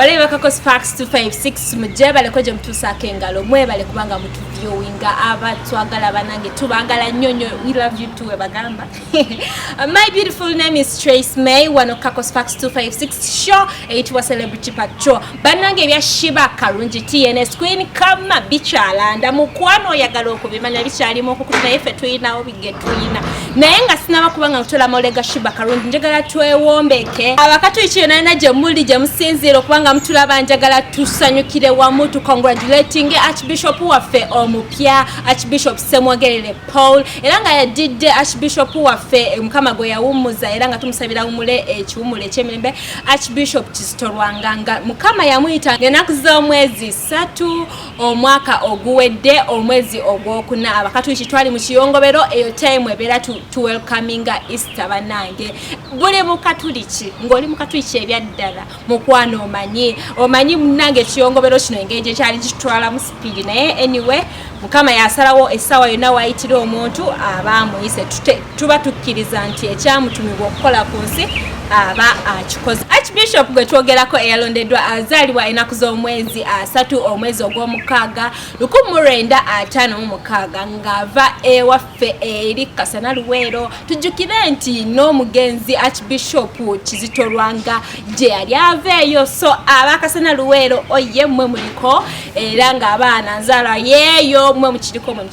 Bale bakako Sparks 256 mujje bale koje mtusake ngalo mwe bale kubanga mtu viewing aba twagala banange tubagala nyonyo we love you too bagamba uh, My beautiful name is Trace May one of Kako Sparks 256 show it was celebrity patrol banange bya Shiba Karungi TNS Queen kama bichalanda mukwano oyagala okubimanya bichali mu kukuna ife tuina obi getuyina naye nga sinaba kubanga nkutola molega shiba karungi njagala twewombeke abakatuliki yona yona gyemuli gyemusinziira okubanga mutulaba njagala tusanyukire wamu tu congratulating archbishop waffe omupya archbishop semwogerere paul era nga yadidde archbishop waffe mukama gwe yawummuza era nga tumusabira wumule ekiwumulo ekyemirembe archbishop kizito lwanganga mukama yamuyita ngenaku z'omwezi satu omwaka oguwedde omwezi ogwokuna abakatuliki twali mu kiyongobero eyo time ebeera tuwelcominga easter banange buli mukatuliki ngaoli mukatuliki ebyaddala mukwano omanyi omanyi munange ekiyongobero kino engeri gyekyali kitwalamu sipiidi naye anyway mukama yasalawo essaawa yonna wayitira omuntu aba amuyise tuba tukkiriza nti ekyamutumibwa okukola ku nsi aba akikoze archbishop gwe twogerako eyalondeddwa azaalibwa enaku z'omwezi asatu omwezi ogw'omukaaga lukumu lwenda ataano mu mukaaga ng'ava ewaffe eri kasana luweero tujjukire nti n'omugenzi archbishop kizitolwanga gye yali aveeyo so aba kasana luweero oye mwe muliko era ng'abaana nzaala yeeyo mwe mukiriko mwe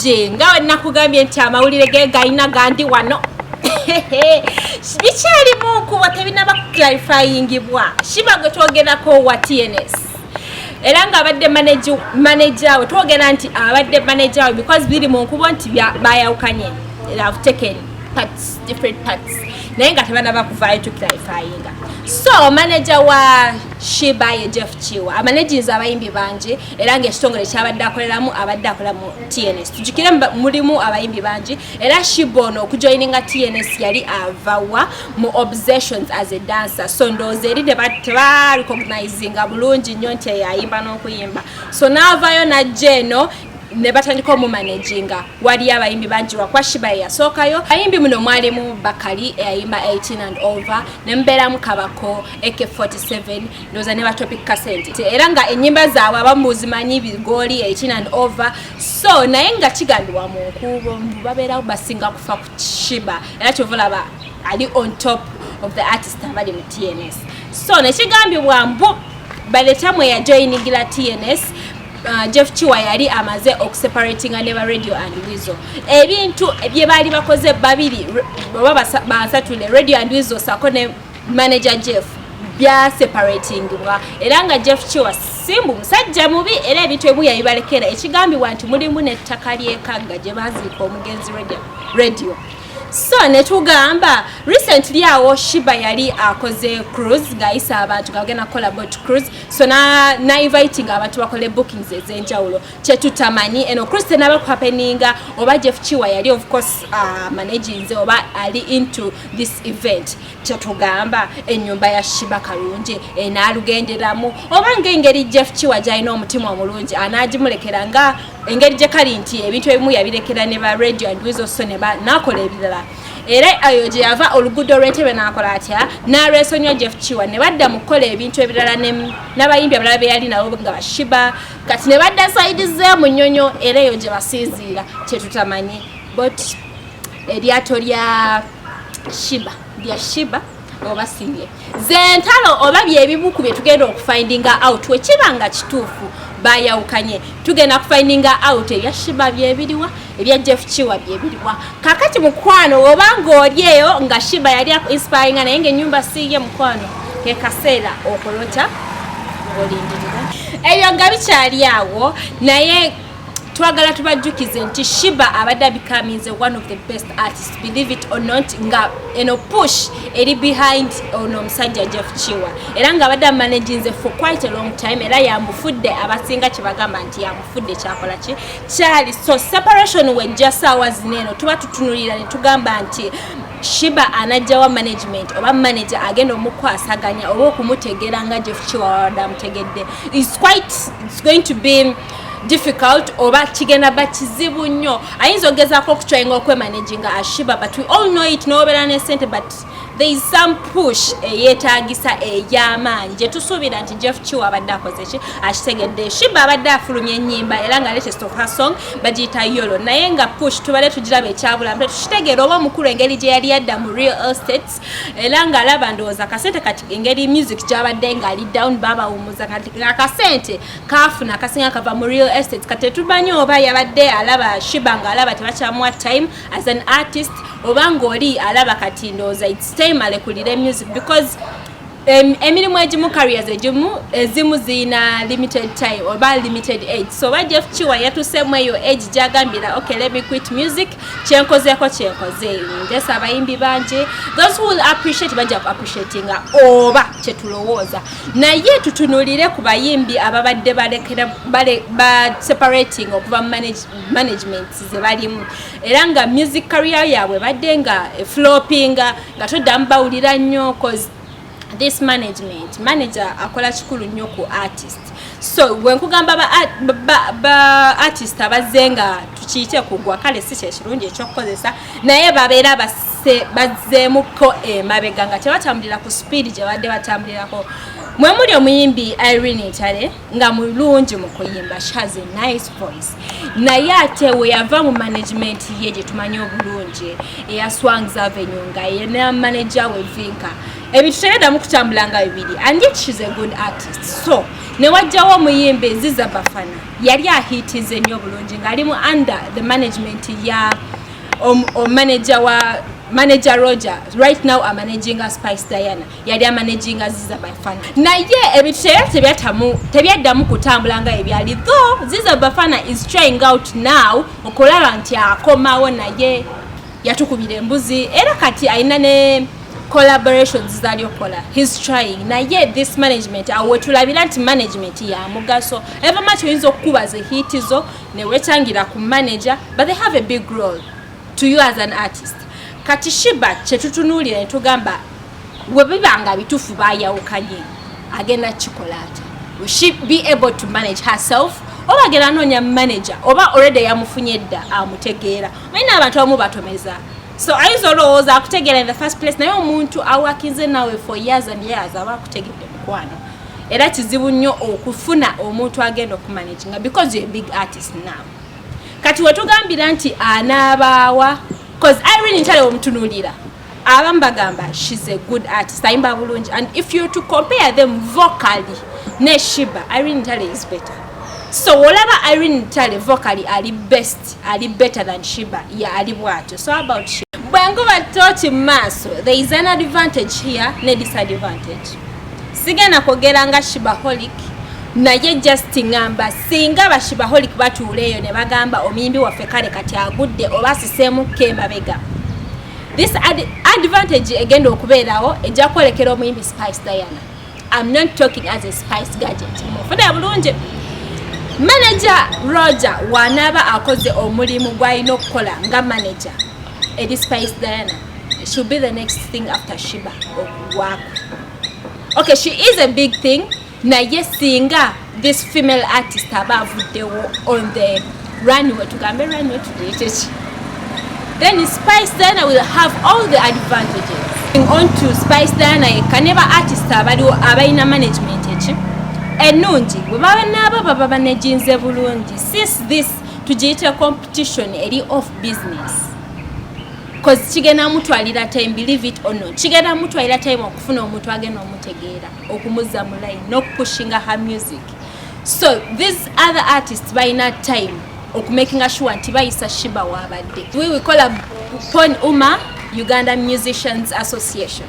bulungi nga we nakugambye nti amawulire ge galina gandi wano bikyalimu nkubo tebinaba kuclarifyingibwa shiba gwe twogerako wa tns era ng'abadde maneja we twogera nti abadde maneja we because biri mu nkubo nti bayawukanye have taken parts different parts naye nga tebana bakuvaayo to clarifyinga so maneja wa shiba ye jeff kiwa amanejinza abayimbi bangi era ngaekitongole kyabadde akoleramu abadde akola mu tns tujukire mulimu abayimbi bangi era shiba ono okujoininga tns yali avawa mu obsessions as a dancer so ndowooza eri tebarecognizinga bulungi nnyo nti eyayimba n'okuyimba so naavayo najja eno ne batandika omumanaginga waliyo abayimbi bangi wakwa shiba eyasookayo ayimbi muno mwalimu bakali eyayimba 18 and over ne mubeeramu kabako ak 47 ndowooza ne batopic kasenti era nga ennyimba zaabwe abamuzimanyi bigooli 18 and over so naye nga kigambibwa mu nkuubo mbu babeerawo basinga kufa ku kishiba era kyova olaba ali on top of the artist abali mu tns so nekigambibwa mbu by the time weyajoyinigila tns Uh, jeff kiwa yali amaze okuseparatinga ne ba radio and wizo ebintu bye baali bakoze babiri oba basatule radio and wizo sako ne manager jeff byaseparatingibwa era nga jeff kiwa simbu musajja mubi era ebintu ebimu yabibalekera ekigambibwa nti mulimu nettaka lyekagga gye baziika omugenzi radio so netugamba recently awo shiba yali akoze cruise ngayisa abantu gagenda kukola bot cruise so nainvitinga abantu bakole bookings ezenjawulo kyetutamanyi eno christian aba kuhapeninga oba jeff kiwa yali of course uh, managinze oba ali into this event kyetugamba enyumba ya shiba kalungi enaalugenderamu oba ngaengeri jeff kiwa gyalina omutima omulungi anaagimulekera nga engeri gye kali nti ebintu ebimu yabirekera ne ba radio and wizoso ne nakola ebirala era ayo gye yava oluguudo olw'entebe n'akola atya n'alwesonyiwa jeff kiwa ne badda mu kukola ebintu ebirala n'abayimbi abalala be yali nabo nga bashiba kati ne badda sayidi ze mu nnyonyo era eyo gye basinziira kyetutamanyi but eryato lya shiba lya shiba oba siye zentalo oba byebibuku byetugenda okufindinga out wekiba nga kituufu bayawukanye tugenda kufindinga out ebya shiba byebiriwa ebya jeff kiwa byebiriwa kakati mukwano oba ng'oli eyo nga shiba yali akuinspiringa naye ngaenyumba siiye mukwano kekaseera okulota olindirira ebyo nga bikyali awo naye twagala tubajjukize nti shiba abadde abecomings one of the best artist believe it or not nga eno push eri behind ono omusajja jeff kiwa era nga abadde amanaginze for quite a long time era yamufudde abasinga kyebagamba nti yamufudde kyakola ki kyali so separation wejja saawa zino eno tuba tutunulira ne tugamba nti shiba anajjawa management oba manager agenda omukwasaganya oba okumutegeera nga jefukiwawada amutegedde is quite it's going to be difficult oba kigenda ba kizibu nnyo ayinza ogezako okutryinga okwemanaginga ashiba but we all know it nobeera nesente but there is some push eyetagisa eyamaanyi gyetusuubira nti jeff kiwa abadde akoze ki akitegedde shiba abadde afulumya enyimba era nga latest of her song bagiyita yolo naye nga push tubale tugiraba ekyabula mpe tukitegeera oba omukulu engeri gye yali yadda mu real estates era nga alaba ndowooza akasente kati engeri music gyabadde nga ali down babawumuza kati akasente kafuna akasinga kava mu real estates kati tetumanyi oba yabadde alaba shiba nga alaba tebakyamuwa time as an artist oba ng'oli alaba kati ndowooza its time alekulire music because emirimu egimu carriers egimu ezimu zirina limited time oba limited age so oba jeff kiwa yatuseemu eyo age gyagambira okay let me quit music kyenkozeeko kyenkoze just abayimbi bangi those who will appreciate bajja ku appreciatinga oba kyetulowooza naye tutunulire ku bayimbi ababadde balekera ba separating okuva mu management zebalimu era nga music career yaabwe badde nga floppinga nga toddamu bawulira nnyo cause this management manager akola kikulu nnyo ku artist so bwenkugamba ba artist abazze nga tukiyite kugwa kale si kyekirungi ekyokukozesa naye babeera bazzeemuko emabega nga tebatambulira ku speed gye badde batambulirako mwemuli omuyimbi irene ntale nga mulungi mu kuyimba she has a nice voice naye ate weyava mu management ye gye tumanyi obulungi eya swangs avenue nga yena manager we vinka ebintu teyadamu kutambula nga bibiri and yet she's a good artist so newajjawo omuyimbi ziza bafana yali ahitize nnyo obulungi ngaali mu under the management ya omanager wa manager roger right now amanaginga spice diana yali amanaginga ziza bafana naye ebintu teyali tebyatamu tebyaddamu kutambula nga ebyali tho ziza bafana is trying out now okulaba nti akomawo naye yatukubira embuzi era kati alina ne collaborations zali okola his trying naye this management awo wetulabira nti management ya mugaso ever much oyinza okukubaza ehiti zo newetangira ku manager but they have a big role to you as an artist kati shiba kyetutunuulira netugamba webibanga bitufu bayawukanye agenda kikola ata she be able to manage herself oba agenda anoonya manager oba already yamufunye dda amutegeera mayina abantu abamu batomeza so ayinza olowooza akutegeera in the first place naye omuntu awakinze nawe for years and years aba akutegedde mukwano era kizibu nnyo okufuna omuntu agenda okumanaginga because you a big artist now kati wetugambira nti anaabaawa bcause irene ntale omutunulira abamu bagamba shes a good artist ayimba bulungi and if you to compare them vocally ne shiba irene ntale is better so olaba irene ntale vocally ali best ali better than shiba ye yeah, ali bwatyo so about shiba bwenguba toki mumaaso there is an advantage here ne disadvantage sigenda kwogera nga shibaholic naye just ngamba singa bashibaholic batuula eyo ne bagamba omuyimbi waffe kale kati agudde oba asiseemukka emabega this ad advantage egenda okubeerawo ejja kwolekera omuyimbi spice diana am not talking as a spice gadget mufuna bulungi manaja roger wanaaba akoze omulimu gwalina okukola nga manaja eri spice diana should be the next thing after shiba okugwaku okay she is a big thing naye singa this female artist aba avuddewo on the runway tugambe runway tudeeteki then spice diana will have all the advantages on to spice diana yekka ne ba artist abaliwo abalina management eki ennungi bwe baba naabo baba banejinze bulungi sis this tugiyitira competition eri off business bcause kigenda mutwalira time believe it or not kigenda mutwalira time okufuna omuntu agenda omutegeera okumuzza mu line nokupushinga her music so these other artists balina time okumakinga sure nti bayisa shiba wabadde we we call up pon uma uganda musicians association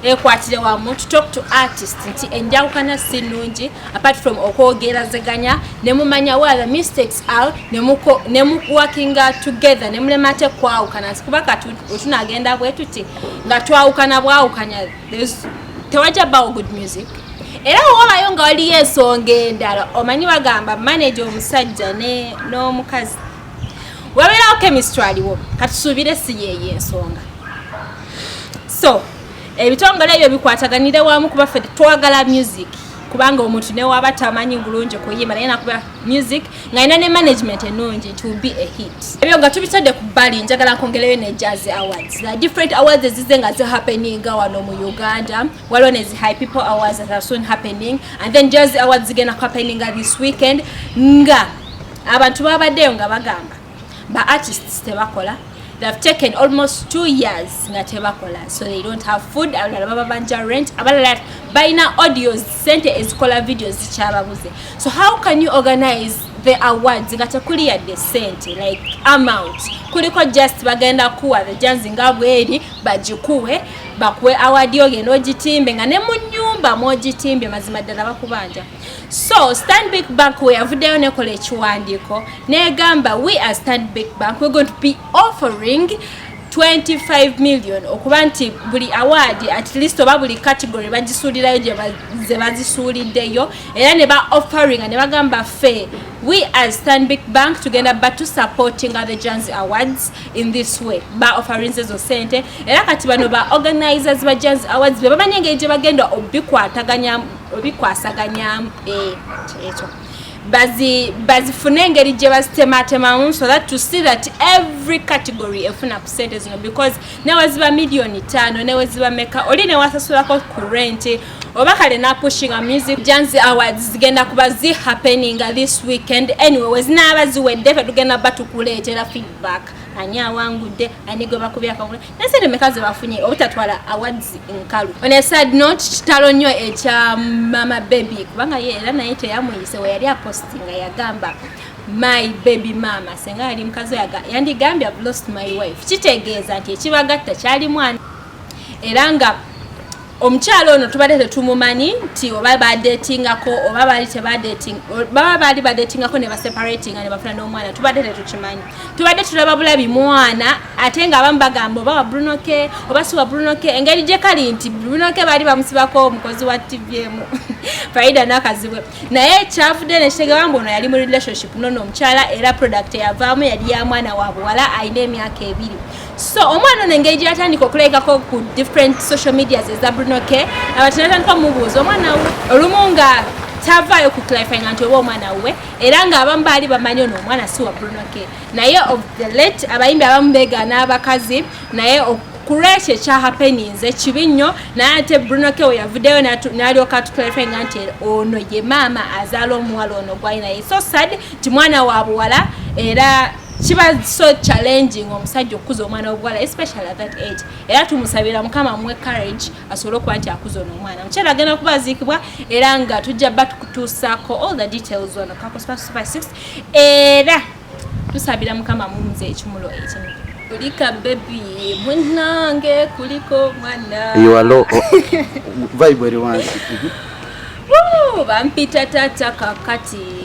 ekwatire wamu to talk to artist nti enjawukana si nnungi apart from okwogerazeganya nemumanya wa the mistakes are nemuwakinga together nemulema ate kwawukana kuba kati otunagenda bwetuti nga twawukana bwawukanya tewajja bawo good music era wowabayo nga waliyo ensonga endala omanyi bagamba manaja omusajja n'omukazi wabeerawo chemistry aliwo katusuubire si yeeyo ensonga so ebitongole ebyo bikwataganire wamu kuba fe twagala music kubanga omuntu newaba tamanyi bulungi kuyimba naye nakuba music ngalina ne management enungi it will be a hit ebyo nga tubitadde ku bbali njagala kwongerayo ne jazz awards the different awards ezize nga zi happening wano mu uganda waliwo ne zi high people awards that are soon happening and then jazz awards zigenda ku happening this weekend nga abantu babadeyo nga bagamba ba artists tebakola they've taken almost two years nga tebakola so they don't have food abalala baba banja rent abalala balina audios sente ezikola videos zikyababuze so how can you organize the awards nga tekuli yadde sente like amount kuliko just bagenda kuwa the janzi nga bweri bagikuwe bakuwe award yo genda ogitimbe nga ne mu nyumba mwogitimbye mazima ddala bakubanja So Stanbic Bank we avuddeyo nekola ekiwandiiko negamba we as Stanbic Bank we're going to be offering 25 million okuba nti buli award at least oba buli category bagisuulirayo ze bazisuuliddeyo era ne ba offeringa ne bagamba ffe we as stanbic bank tugenda batu supportinga the jans awards in this way ba offerings ezo sente era kati bano ba organizers ba jans awards be bamanyi engeri gye bagenda obikwataganya obikwasaganyamu eh, kyekyo bazifune engeri gye bazitematemamu so that to see that every category efuna ku sente zino because neweziba millioni tano neweziba meka oli newasasulako ku rent oba kale napushinga music janzi awards zigenda kuba zi happeninga this weekend anyway wezinaaba ziwedde fe tugenda batukuleetera feedback ani awangudde ani gwe bakubye akagula ensente meka zebafunye obutatwala awards nkalu on a side note kitalo nnyo ekya mama baby kubanga ye era naye teyamuyise weyali apostinga yagamba my baby mama senga yali mukazi yaga yandigambye i've lost my wife kitegeeza nti ekibagatta kyali mwana era nga omukyalo ono tubadde tetumumanyi nti oba badetingako oba baali tebababa baali badetingako ne baseparatinga ne bafuna n'omwana tubadde tetukimanyi tubadde tulaba bulabi mwana ate nga abamu bagamba oba wa brunoke oba si wa brunoke engeri gye kali nti brunoke baali bamusibako omukozi wa tvm faida nakazibwe naye kyavudde nekitegeba mbu ono yali mu relationship nono omukyala era product eyavaamu yali ya mwana wa buwala alina emyaka ebiri so omwana ono engeri gyeyatandika okulekako ku different social medias eza bruno k abati natandika omubuuza omwana we olumu nga tavaayo ku clarifying nti oba omwana wuwe era ng'abamu baali bamanyi ono omwana si wa bruno k naye of the late abayimbi abamu beegaana abakazi naye kulwekyo ekyahapeninze kibi nnyo naye ate bruno k weyavuddeyo nalyoka tuclarifying nti ono ye maama azaala omuwala ono gwalinaye so sad nti mwana wa buwala era kiba so challenging omusajja okukuza omwana wobuwala especially at that age era tumusabira mukama muwe courage asobole okuba nti akuza ono omwana mukyala agenda kubaziikibwa era nga tujja ba tukutuusaako all the details ono kakusupa super six era tusabira mukama mumuze ekimulo ekimu kulika bebi munange kuliko mwana iwalo vibe eri wansi bampita tata kakati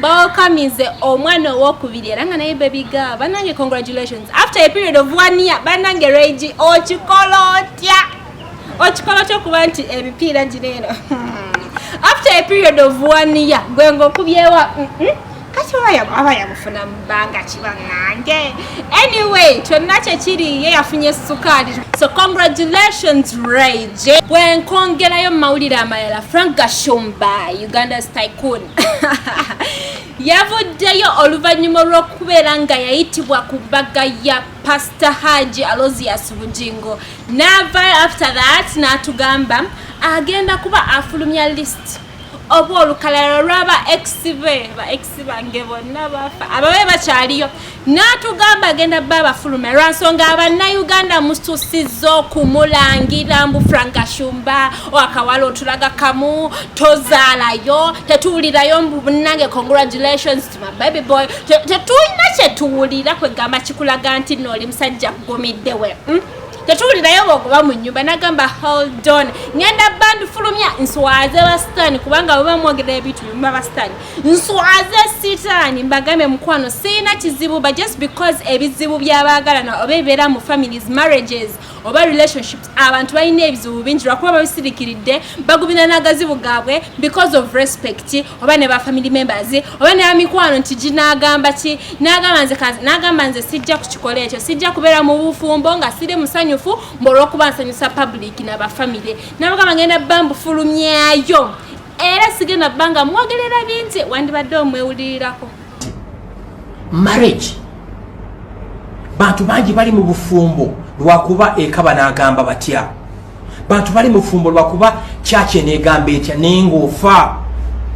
bawakamize omwana owokubiri era nga naye baby girl banange congratulations after a period of one year banange regi okikola otya okikola otya okuba nti emipiira gino eno after a period of one year gwe ngaokubyewa kati aba yamufuna mubanga kiba nange anyway kyonna kyekiri ye yafunye sukaali so congratulations rage bwenkongerayo mumawulire amalala frank gashumba uganda's tycoon yavuddeyo oluvannyuma olw'okubeera nga yayitibwa ku mbaga ya pasita haji alosius bugingo naava after that n'atugamba agenda kuba afulumya list oba olukalala lwaba ex be ba ex bange bonna bafa ababe bakyaliyo n'atugamba agenda bba abafulume lwa nsonga abannayuganda mususizza okumulangira mbu frankashumba akawala otulaga kamu tozaalayo tetuwulirayo mbu bunange congratulations to my baby boy tetulina kyetuwulira kwegamba kikulaga nti nooli musajja kugumidde we hmm? tetuwulirayo bwogoba mu nyumba nagamba holdon ngenda bandifulumya nswaze basitaani kubanga bwe bamwogerera ebintu bimuma basitaani nswaze sitaani mbagambe mukwano sirina kizibu but just because ebizibu byabaagalana oba ebibeera mu families marriages oba relationships abantu balina ebizibu bingi lwakuba babisirikiridde bagubina n'agazibu gaabwe because of respect oba ne ba family members oba ne bamikwano nti ginaagamba ki nagamba nze sijja ku kikola ekyo sijja kubeera mu bufumbo nga siri musanyufu mbaolwokuba nsanyusa public na bafamily nabagamba ngenda bambufulumyayo era sigenda bbanga mwogerera bingi wandibadde omwewulirirako marriage bantu bangi bali mu bufumbo lwakuba eka banagamba batya bantu bali mufumbo lwakuba kyaki enegamba etya naye ngaofa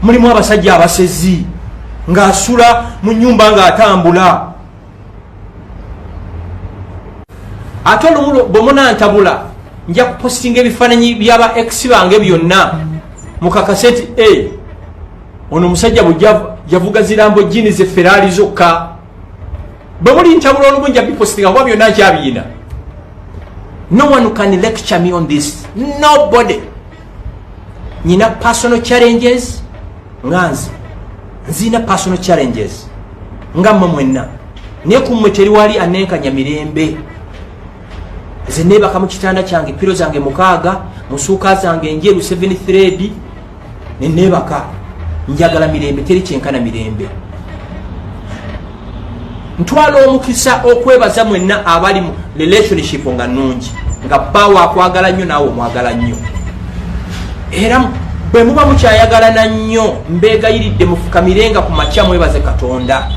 mulimu abasajja abasezi ngaasula mu nyumba ngaatambula ate olumu bwemunantabula nja kupostinga ebifaananyi byaba ex bange byonna mukakase nti e ono omusajja bwejavuga zirambo jini ze feraali zokka bwe muli ntabula olumu nja bipostinga kuba byonna nkyabiina no one can lecture me on this nobody nyina personal challenges nga nze nziina personal challenges nga mmwe mwenna naye ku mmwe teri wali anenkanya mirembe nze neebaka mu kitanda kyange piro zange mukaaga musuuka zange njeru 7 thread neneebaka njagala mirembe teri kyenkana mirembe ntwala omukisa okwebaza mwenna abali mu relationship nga nungi nga bawo akwagala nnyo naawe omwagala nnyo era bwe muba mukyayagalana nnyo mbeegayiridde mufukamirenga ku makya mwebaze katonda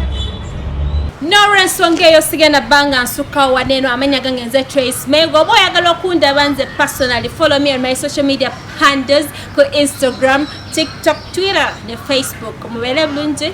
nolwensonga eyo sigenda banga nsukkawo wadde eno amanya gange nze trace menga oba oyagala okundaba nze personally follow me on my social media handles ku instagram tiktok twitter ne facebook mubeere bulungi